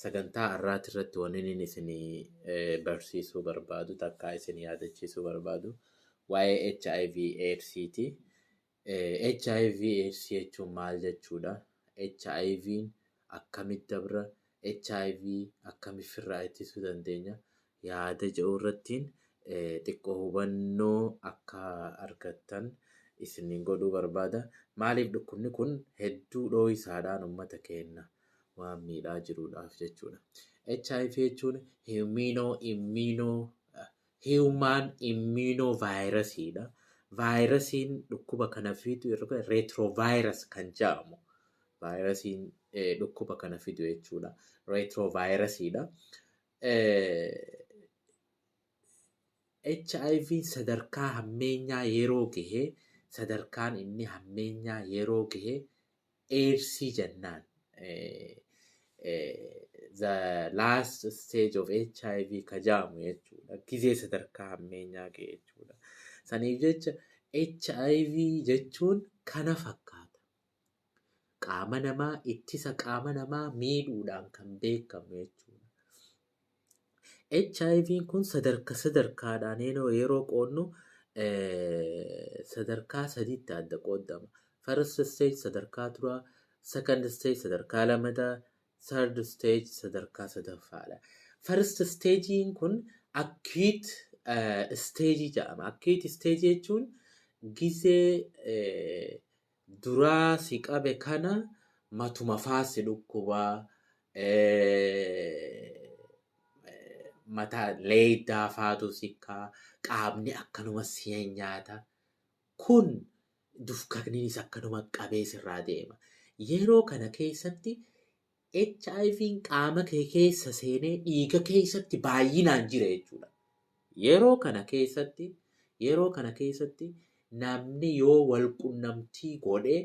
Sagantaa har'aati irratti wanniin isin barsiisuu barbaadu takkaa isin yaadachiisuu barbaadu waa'ee HIV AIDSiiti. HIV AIDS jechuun maal jechuudha? HIVn akkamitti dabra? HIV akkamitti firraa ittisuu dandeenya? yaada jedhu irrattiin xiqqoo hubannoo akka argattan isiniin godhuu barbaada. Maaliif dhukkubni kun hedduu dhooysaadhaan uummata keenna waan miidhaa jiruudhaaf jechuudha. HIV jechuun himinoo imminoo hiwumaan imminoo vaayirasiidha. Vaayirasiin dhukkuba kana fidu reetiroovaayirasi kan jedhamu vaayirasiin dhukkuba kana fidu jechuudha. Reetiroovaayirasiidha. hiv sadarkaa hammeenyaa yeroo gahe sadarkaan inni hammeenyaa yeroo gahe eedsii jennaan. The last stage of hiv ka jaamu jechuudha. Gizee sadarkaa hammeenyaa gahe jechuudha. Saniif jecha hiv jechuun kana fakkaata. qaama namaa ittisa qaama namaa miidhuudhaan kan beekamu jechuudha. HIV kun sadarka sadarkaadhaan yeroo qoodnu sadarkaa sadiitti adda qoodama. First stage sadarkaa duraa, second stage sadarkaa lamataa, third stage sadarkaa sadaffaadha. First stage'n kun acute stage jedhama. Acute stage jechuun gizee duraa si qabe kana matuma faa si dhukkuba mata leeydaa faatu sikkaa qaamni akkanuma si nyaata kun dufkakniinis akkanuma qabee sirraa deema yeroo kana keessatti HIVn qaama kee keessa seenee dhiiga keessatti baay'inaan jira jechuudha. Yeroo kana keessatti yeroo kana keessatti namni yoo wal qunnamtii godhe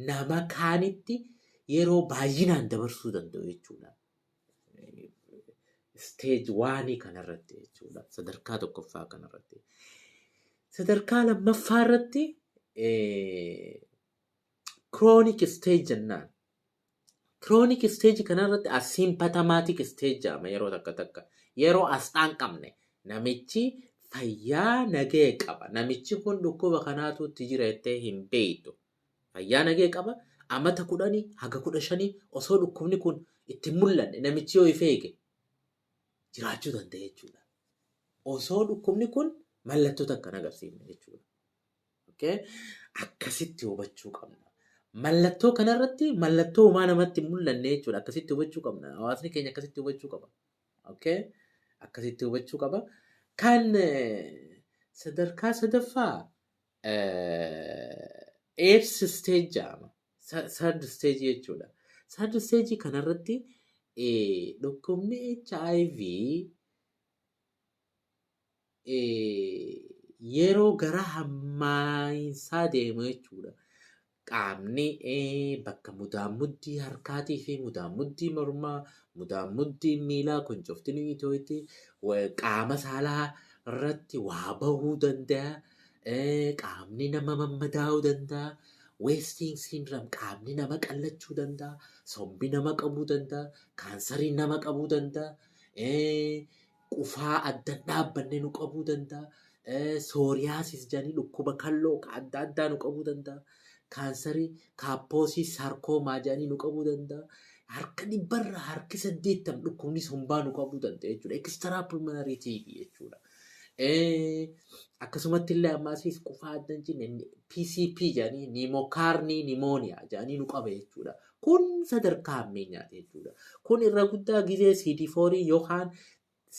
nama kaanitti yeroo baay'inaan dabarsuu danda'u jechuudha. Isteeji waanii kanarratti jechuudha. Sadarkaa tokkoffaa kanarratti. Sadarkaa lammaffaa irratti Chronic stage jennaan. Chronic stage kanarratti asymptomatic stage jedhama yeroo takka takka. Yeroo asxaan qabne namichi fayyaa nagee qaba. Namichi kun dhukkuba kanaatu itti jira jettee hin beektu. Fayyaa nagee qaba. Amata kudhanii haga kudha shanii osoo dhukkubni kun itti hin mul'anne namichi yoo if eege jiraachuu danda'a jechuudha. Osoo dhukkubni kun mallattoo takka hin agarsiifne jechuudha. Okay? Akkasitti hubachuu qabna. Mallattoo kanarratti mallattoo homaa namatti hin mul'anne jechuudha. Akkasitti hubachuu qabna. Hawaasni keenya akkasitti hubachuu qaba. Okay? Akkasitti hubachuu qaba. Kan eh, sadarkaa sadaffaa eebs isteej jedhama. Sardi isteejii jechuudha. Sardi isteejii kanarratti eh, dhukkubni HIV yeroo gara hammaayinsaa deemu jechuudha. Qaamni bakka mudaammuddii harkaatii fi mudaammuddii mormaa, mudaammuddii miilaa kun cufti ni itooyti, qaama saalaa irratti waa bahuu danda'a, qaamni nama mammadaa'uu danda'a, weestiin siindiraam qaamni nama qallachuu danda'a, sombi nama qabuu danda'a, kaansariin nama qabuu danda'a. qufaa adda dhaabbanne nu qabuu danda'a. Eh, Sooriyaasis jedhanii dhukkuba kalloo ka adda addaa nu qabuu danda'a. Kaansarii, kaappoosii, saarkoomaa jedhanii nu qabuu danda'a. Harka dhibbarra harki saddeettam dhukkubni sombaa nu qabuu danda'a jechuudha. Ekistraa pulmonarii tiibii jechuudha. Eh, Akkasumatti illee ammaasiis qufaa adda hin cinne PCP jedhanii niimokaarnii nimooniyaa jedhanii nu qaba jechuudha. Kun sadarkaa hammeenyaati jechuudha. Kun irra guddaa gizee CD4 yookaan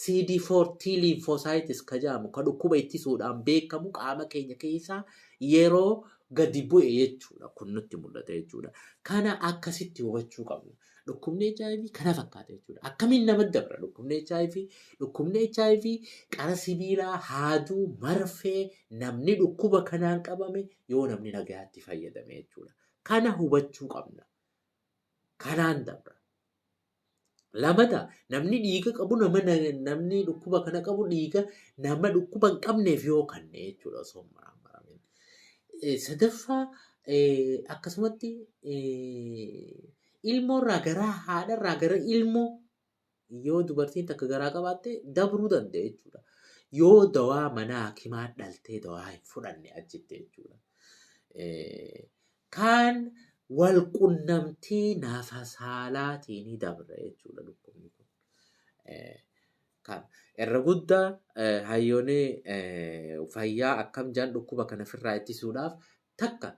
CD4 T lymphocytes ka jedhamu ka dhukkuba ittisuudhaan beekamu qaama keenya keessaa yeroo gadi bu'e jechuudha. Kun nutti mul'ata jechuudha. Kana akkasitti hubachuu qabna. Dhukkubni HIV kana fakkaata jechuudha. Akkamiin nama dabra dhukkubni HIV? Dhukkubni HIV qara sibiilaa, haaduu, marfee namni dhukkuba kanaan qabame yoo namni nagayaatti fayyadame jechuudha. Kana hubachuu qabna. Kanaan dabra. Lamata namni dhiiga qabu nama namni dhukkuba kana qabu dhiiga nama dhukkuba hin qabneef yoo kanne jechuudha osoo hin maraamaramin. Eh, Sadaffaa eh, akkasumatti eh, ilmoorraa gara haadharraa gara ilmoo Yoo dubartiin takka garaa qabaatte dabruu danda'e jechuudha. Yoo dawaa manaa hakimaa dhaltee dawaa hin fudhanne achitti jechuudha. Kaan wal qunnamtii naafa saalaatiin dabra jechuudha dhukkubni kun. Kan irra guddaa hayyoonni fayyaa akkam jedhan dhukkuba kana ofirraa ittisuudhaaf takka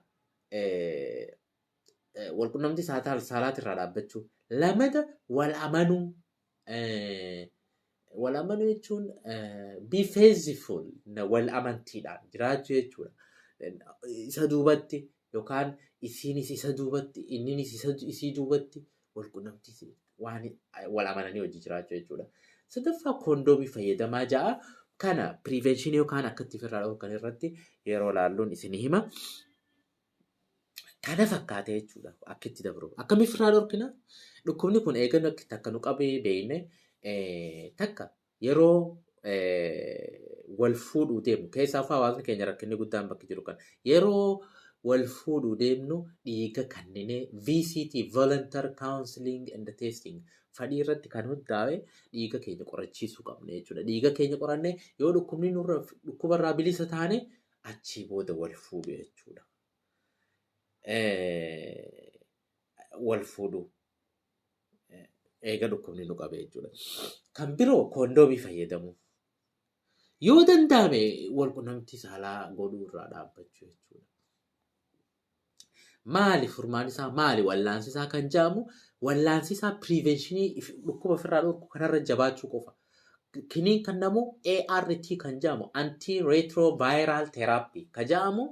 walqunnamtii saalaati irraa dhaabbachuu lamata wal amanuu wal amanuu jechuun be faithful wal amantiidhaan jiraachuu jechuudha. Isa duubatti yookaan isiinis isa duubatti inninis isa isii duubatti wal qunnamtii waan wal amananii hojii jiraachuu jechuudha. Sadaffaa kondoomii fayyadamaa ja'a kana prevention yookaan akkatti ofirraa dhorkan irratti yeroo laalluun isin hima. Kana fakkaatee jechuudha akka itti dabru. Akkamitti irraa dhorkina? Dhukkubni kun eegannoo akka itti akka nu qabee beekne takka yeroo wal fuudhuu deemu keessaa fa'aa hawaasni keenya rakkinni guddaan bakki jiru kan yeroo wal fuudhuu deemnu dhiiga kanninee VCT Volunteer Counseling and Testing fadhii irratti kan hundaa'e dhiiga keenya qorachiisuu qabna jechuudha. Dhiiga keenya qorannee yoo dhukkubni nurra dhukkubarraa bilisa taane achii booda wal fuudhu jechuudha. Wal fuudhu eega dhukkubni nu qabe jechuudha. Kan biroo koondoomii fayyadamuu. Yoo danda'ame wal qunnamtii saalaa godhuu irraa dhaabbachuu jechuudha. Maali furmaan isaa maali wallaansi isaa kan jedhamu wallaansi isaa piriivenshinii dhukkuba ofirraa dhorku kanarra jabaachuu qofa. Kiniin kan namu ART kan jedhamu anti retroviral therapy kan jedhamu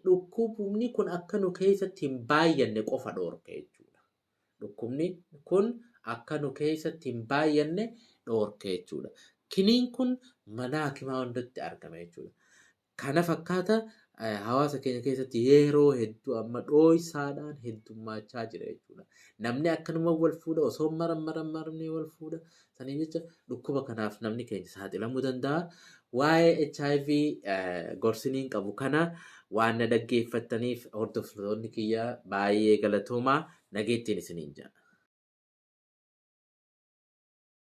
dhukkubni kun akka nu keessatti hin baay'anne qofa dhorka jechuudha. Dhukkubni kun akka nu keessatti hin baay'anne dhorka jechuudha. Kiniin kun mana hakimaa hundatti argama jechuudha. Kana fakkaata hawaasa keenya keessatti yeroo hedduu amma dhooysaadhaan heddummaachaa jira jechuudha. Namni akkanuma wal fuudha osoo maran maran marmee wal fuudha. Saniif jecha dhukkuba kanaaf namni keenya saaxilamuu danda'a. Waa'ee HIV gorsiniin qabu kana waan na dhaggeeffattaniif hordoftoonni kiyya baay'ee galatoomaa nageettiin isiniin jedha.